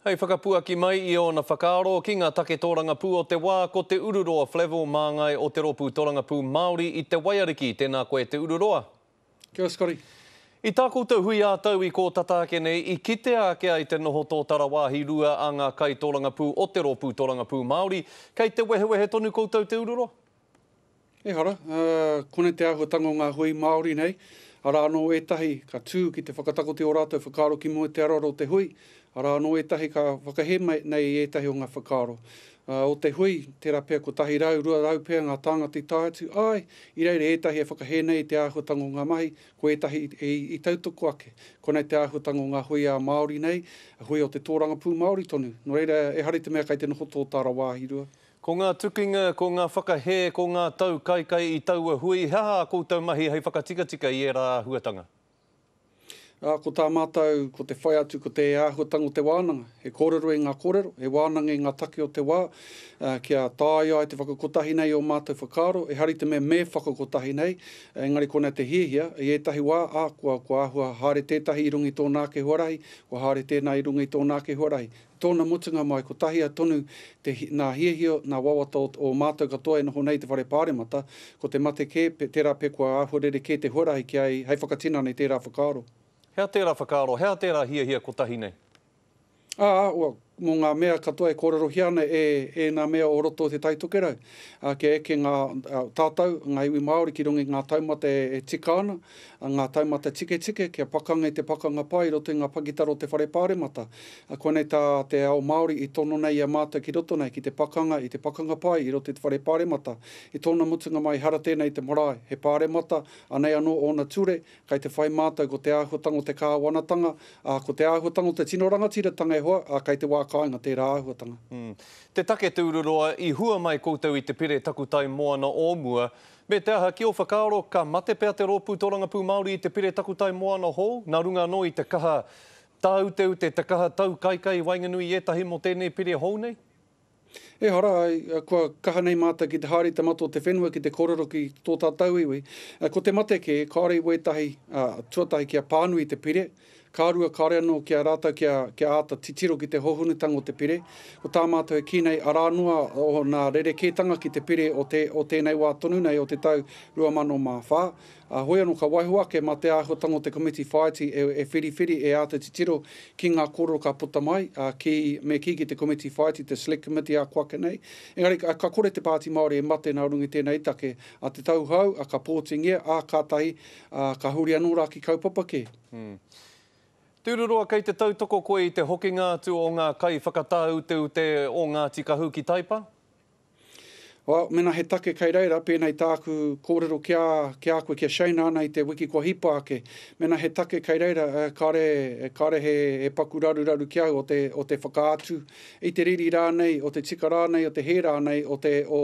Hei whakapuaki mai i ōna whakaaro ki ngā take tōrangapū o te wā, ko Te Ururoa Flavell māngai o Te Rōpū Torangapū Māori i Te Waiariki, tēnā koe Te Ururoa. Kia ora Scotty. I tā koutou hui ā-tau i kō tata ake nei, i kitea ake ai te noho tōtara wāhi rua a ngā kaitōrangapū o Te Rōpū Torangapū Māori, kei te wehewehe tonu koutou Te Ururoa? Ehara, ā, konei te āhuatanga o ngā hui Māori nei, arā anō ētahi ka tū ki te whakatakoto i ō rātou whakaaro ki mua i te aroaro o te hui, arā anō ētahi ka whakahē mai nei i ētahi o ngā whakaaro, ā, o te hui, tērā pea 100, 200 pea ngā tāngata i tae atu, āe, i reira ētahi e whakahē nei i te āhuatanga o ngā mahi, ko ētahi i, i tautoko ake. Konei te āhuatanga o ngā hui ā Māori nei, hui o te tōrangapū Māori tonu. Nō reira, ehara i te mea kei te noho tō tāra wāhi rua. Ko ngā tukinga, ko ngā whakahē, ko ngā tau kaikai i taua hui, he aha ā koutou mahi hei whakatikatika i ērā āhuatanga? Ā, ko tā mātou, ko te whai atu ko te āhuatanga o te wānanga, he kōrero i ngā kōrero, he wānanga i ngā take o te wā, ā, kia tāia ai te whakakotahi nei i ō mātou whakaaro, e hari te mea me whakakotahi nei, engari konei te hiahia, i ētahi wā, ā, kua, kua āhua haere tētahi i runga i tōna ake huarahi, kua haere tēnā i runga i tōna ake huarahi. Tōna mutunga mai, ko Tahia tonu te, nā Hiahia, nā wawata o ō mātou katoa e noho nei i te Whare Pāremata, ko te mate kē, tērā pea kua āhua rerekē te huarahi ki a ia hei whakatinana i tērā whakaaro. Hea tērā whakaaro, hea tērā hiahia kotahi nei? Ā, ua, mō ngā mea katoa e kōrerohia ana e ēnā mea o roto o Te Tai Tokerau, ā, kia eke ngā, tātou, ngā iwi Māori ki runga i ngā taumata e, e tika ana, Ngā taumata tiketike kia pakanga i te pakanga pā i roto i ngā pakitara o te Whare Pāremata. Koinei tā te ao Māori i tono nei i a mātou ki roto nei ki te pakanga i te pakanga pae i roto i te Whare Pāremata. I tōna mutunga mai ehara tēnei i te marae, he Pāremata, anei anō ōna ture, kei te whai mātou ko te āhuatanga o te kāwanatanga, ā, ko te āhuatanga o te tino rangatiratanga e hoa, ā, kei te wā kāinga tērā āhuatanga. Te take Tururoa, i hua mai koutou i te pire takutai moana o mua, Me te aha, ki ō whakaaro, ka mate pea te Rōpū Tōrangapū Māori i te pire takutai moana hou, nā runga anō i te kaha tāuteute, te kaha taukaikai i waenganui i ētahi mō tēnei pire hou nei? Ehara, kua kaha nei mātou ki te haere i te mata o te whenua ki te kōrero ki tō tātou iwi. Ko te mate kē, kāore i wētahi tuatahi kia pānui te pire. Ka rua, kāore anō ki a rātou kia, kia āta titiro ki te hōhonutanga o te pire. Ko tā mātou e kī nei, arā noa ōna rerekētanga ki te pire o te, o tēnei wā tonu nei o te tau 2004, ā, hoi anō ka waiho ake mā te āhuatanga o te komiti whāiti e, e whiriwhiri, e āta titiro ki ngā kōrero ka puta mai, ā, kī, me kī ki te komiti whāiti, te Select Committee ā kua ake nei. Engari ka, ka kore te Pāti Māori e mate nā runga i tēnei take, ā, te tauhou, ā, ka pōtingia, ā, kātahi, Ā, ka huri anō rā ki kaupapa kē. Tururoa Kei te tautoko koe i te hokinga atu o ngā kaiwhakatāuteute o Ngāti Kahu ki Taipa? Well, mēnā he take kei reira, pēnei tāku kōrero ki a, ki a koe, ki a Shane rānei i te wiki kua hipa ake, mēnā he take kei reira, kāre, kāre he, he paku raruraru ki au o te, o te whakaatu, i te riri rānei, o te tika rānei, o te hē rānei o te, o,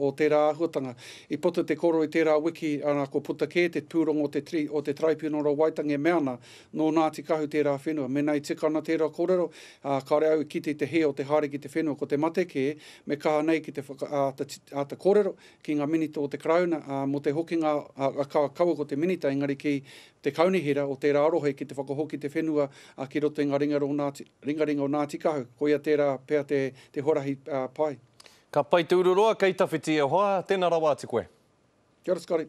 o tērā āhuatanga. I puta te koro i tērā wiki, arā, ko puta kē te pūrongo o te, tri, o te Taraipiunara o Waitangi e mea ana, nō Ngāti Kahu tērā whenua. Mēnā i tika ana tērā kōrero, ā, kāore au i kite i te hē o te haere ki te whenua, ko te mate kē, me kaha nei ki te whaka, ā, āta, āta kōrero ki ngā Minita o te Karauna, ā, mō te hokinga, ā, ā, ka, kaua ko te Minita, engari ki te Kaunihera o tērā rohe ki te whakahoki te whenua, ā, ki roto i ngā ringa rō Ngāti. Ringaringa o Ngāti Kahu, koia tērā pea te huarahi pai. Ka pai te ururoa, kei tawhiti e hoa, tena rawa atu koe. Kia ora Scotty.